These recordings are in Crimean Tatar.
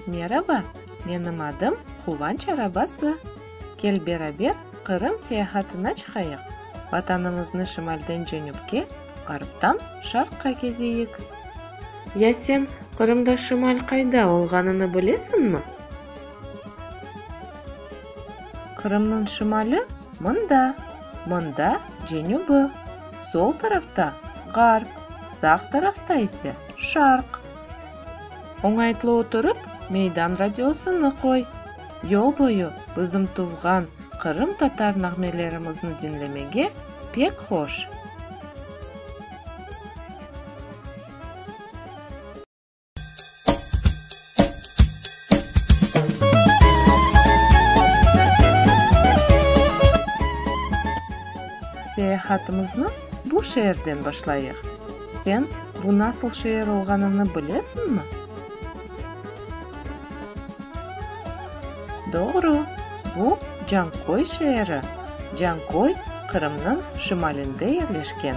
Meraba, menim adım Quvanç Arabası. Kel beraber Qırım seyahatına çıqayıq, Vatanımıznı şimalden cenüpke, ğarbdan şarqqa gezeyik. Ya sen Qırımda şimal qayda olğanını bilesiñmi? Qırımnıñ şimali, mında, mında, cenübi, sol tarafta, ğarp, sağ tarafta ise, şarq. Oñaytlı oturıp, meydan radiosını qoy, yol boyu bizim tuvğan Qırım tatar nağmelerimizni diñlemege pek hoş. Seyahatımıznı bu şeerden başlayıq. Sen bu nasıl şeer olğanını bilesiñmi? Doğru, bu Canköy şeeri. Canköy, Qırımnıñ şimalinde yerleşken.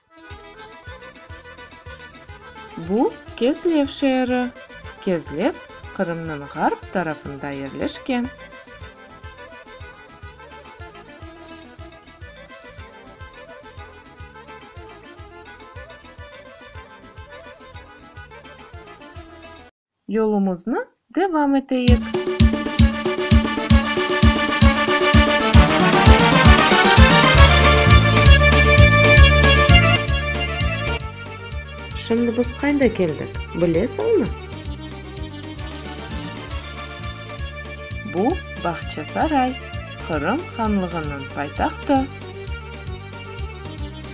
Bu, Kezlev şeeri. Kezlev, Qırımnıñ ğarp tarafında yerleşken. Yolumıznı devam eteyik. Şimdi biz qayda keldik, bilesiñmi? Bu, Bağçasaray, Qırım Hanlığınıñ paytahtı.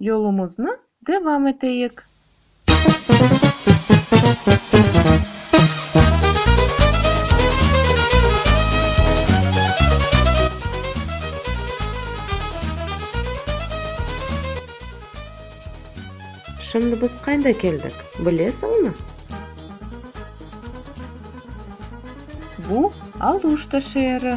Yolumıznı devam eteyik! Şimdi biz qayda keldik, bilesiñmi? Bu, Aluşta şeeri.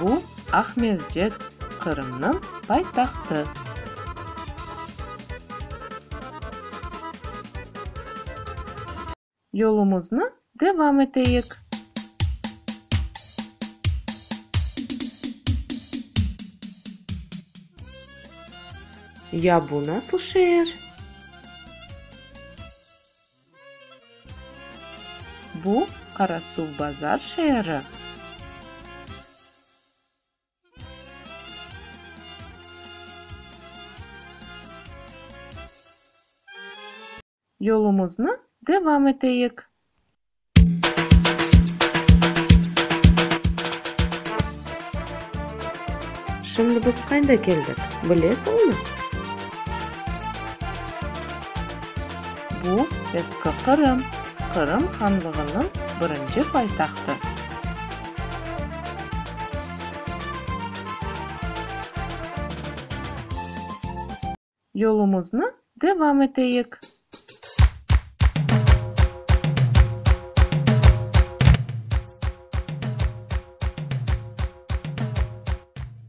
Bu, Aqmescet, Qırımnıñ paytahtı. Yolumıznı devam eteyik. Ya bu nasıl şeer? Bu, Qarasuvbazar şeeri. Yolumıznı devam eteyik. Şimdi biz qayda keldik, bilesiñmi? Bu, eski Qırım, Qırım hanlığınıñ birinci paytahtı. Yolumıznı devam eteyik.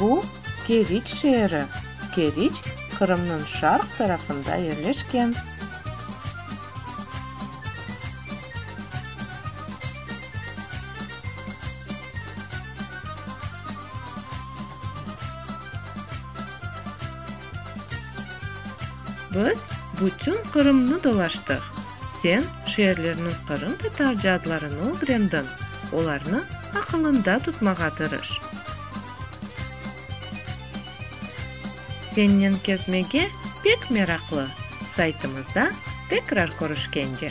Bu, Keriç şeeri. Keriç, Qırımnıñ şarq tarafında yerleşken. Biz bütün Qırımnı dolaştıq. Sen şeerlerniñ qırımtatarca adlarını ögrendiñ, olarnı aqılıñda tutmağa tırış. Sennen kezmege pek meraqlı, saytımızda tekrar körüşkence.